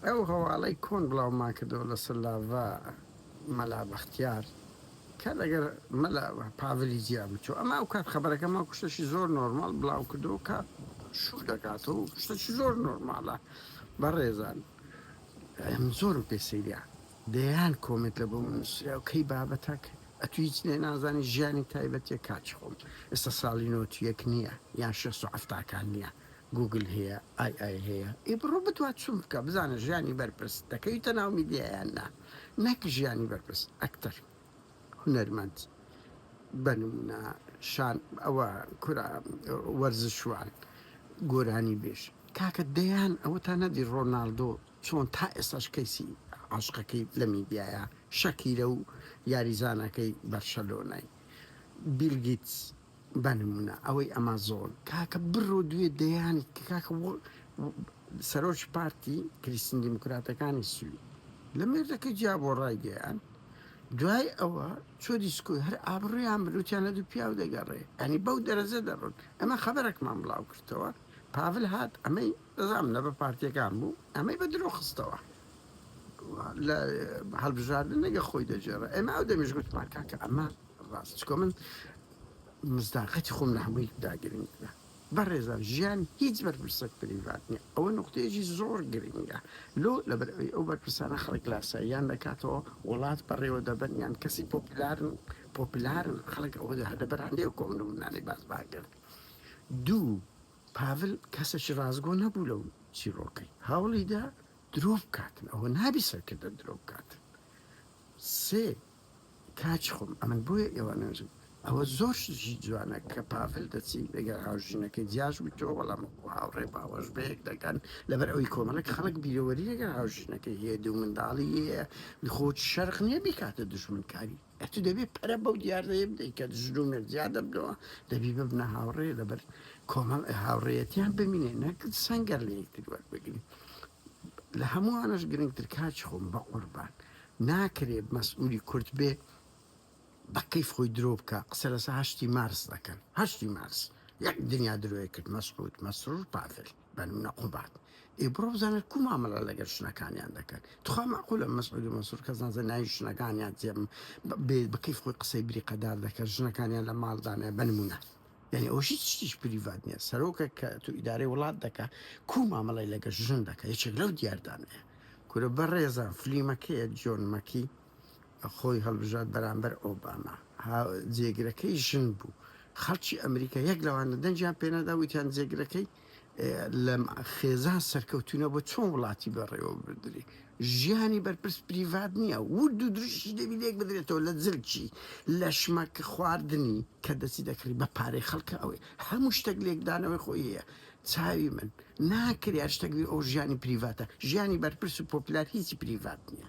ئەو هەواڵەی کۆن بڵاومان کردەوە لەسەر لاڤا مەلا بەختیار کە لەگەر مەلا پاڤلی جیا بچوو ئەمە ئەو کات خەبەرەکە ماکو شتەشی زۆر نۆرماڵ بڵاو کردەوە کە شوو دەکاتەوە شتەشی زۆر نۆرماڵە بەڕێزان ئەم زۆرم پێ سەیریا دەیان کۆمێت لە بۆ من نووسرا و کەی بابەتەک ئەتو هیچ لێ نازانی ژیانی تایبەتیە کاچ خۆم ئێستا ساڵی نۆتیەک نییە یان شێست و حەفتاکان نییە گوگل هەیە ئای ئای هەیە ئی بڕۆ بتوە چون بکە بزانە ژیانی بەرپرس دەکەویتە ناو میدیا یان نا نەک ژیانی بەرپرس ئەکتەر هونەرمەند بە نمونە شان ئەوە کورە وەرزشوان گۆرانی بێژ کاکە دەیان ئەوە تا نەدی ڕۆناالدۆ چۆن تا ئێستاش کەیسی عاشقەکەی لە میدیایە شەکیرە و یاریزانەکەی بەرشەلۆنای بیلگیت بە نمونە ئەوەی ئەمازۆن کاکە بڕۆ دوێ دەیان کاکە وە سەرۆکی پارتی کریستین دیموکراتەکانی سوید لە مێردەکە جیا بۆ ڕای دەیان دوای ئەوە چۆ دیسکۆی هەر ئابڕیان بروتیان لە دوو پیاو دەگەڕێ ئەنی بەو دەرەجە دەڕۆن ئەمە خەبەرەکمان بڵاو کردەوە پاڤل هات ئەمەی دەزام لە بە پارتیەکان بوو ئەمەی بە درۆ خستەوە لە هەڵبژاردنەگە خۆی دەجێڕە ئێمە ئەو دەمیش گوتمان کاکە ئەمە ڕاست چکۆ من مزداقەتی خۆم لە هەمووی داگرنگە بەڕێزان ژیان هیچ بەرپرسە پریڤات نیە ئەوە نقطەیەکی زۆر گرنگە لۆ لەبەر ئەوی ئەو بەرپرسانە خەڵک لاساییان دەکاتەوە وڵات بەڕێوە دەبەن یان کەسی پۆپلارن پۆپلارن خەڵک ئەوە لەبەران لێو کۆم نمونانەی باس باکرد دوو پاڤل کەسێکی ڕازگۆ نەبوو لەو چیرۆکەی هەوڵیدا درۆ بکاتن ئەوە نابی سەرکردە درۆ بکاتن سێ کاچ خۆم ئەمن بۆیە ئێوە نەنجم. ئەوە زۆر شتیکی جوانە کە پاڤل دەچی لەگەر هاوژینەکەی جیاش بویتەوە بەڵام وەکو هاوڕێ باوەش بەیەک دەگەن لەبەر ئەوەی کۆمەڵێک خەڵک بیرەوەری لەگەر هاوژینەکەی هەیە دوو منداڵی هەیە لخۆت شەرق نیە بیکاتە دوژمن کاری ئەتو دەبێ پەرە بەو دیاردەیە بدەی کە ژن و مێرد جیا دەبنەوە دەبی ببنە هاوڕێ لەبەر کۆمەڵ هاوڕێیەتیان بمینێ نەک سەنگەر لە یەکتری وەربگرن لە هەمووانەش گرنگتر کاچ خۆم بەقوربان ناکرێ مەسئولی کورد بێ بە کەیف خۆی درۆ بکا قسە لەسە هەشتی مارس دەکەن هەشتی مارس یەک دنیا درۆی کرد مەسعود مەسرور پافل بەنە قوبات ئێ بڕۆ بزانە کو مامەڵە لەگەر شنەکانیان دەکەن تخوا مەعقولە مەسعود و مەسرور کەس نازە ناوی شنەکانیان جێم بە کەیف خۆی قسەی بریقەدار دەکەن ژنەکانیان لە ماڵدانە بە نمونە یانی ئەوە هیچ شتیش پریڤات نیە سەرۆکە کە تو ئیدارەی وڵات دەکا کو مامەڵەی لەگە ژن دەکە یەکێک لەو دیاردانەیە کورە بە ڕێزە فلیمەکەیە جۆن مەکی خۆی هەڵبژات بەرامبەر ئۆباما جێگرەکەی ژن بوو خەڵکی ئەمریکا یەک لەوانە دەنجیان پێنادا وتیان جێگرەکەی لەم خێزان سەرکەوتونە بۆ چۆن وڵاتی بەڕێوە بردری ژیانی بەرپرس پریڤات نییە ورد و دروشی دەبی لێک بدرێتەوە لە زلکی لە شمەک خواردنی کە دەسی دەکڕی بە پارەی خەڵکە ئەوەی هەموو شتێک لێکدانەوەی خۆیە چاوی من ناکرێ شتەکبی ئەو ژیانی پریڤاتە ژیانی بەرپرس و پۆپلار هیچی پریڤات نییە.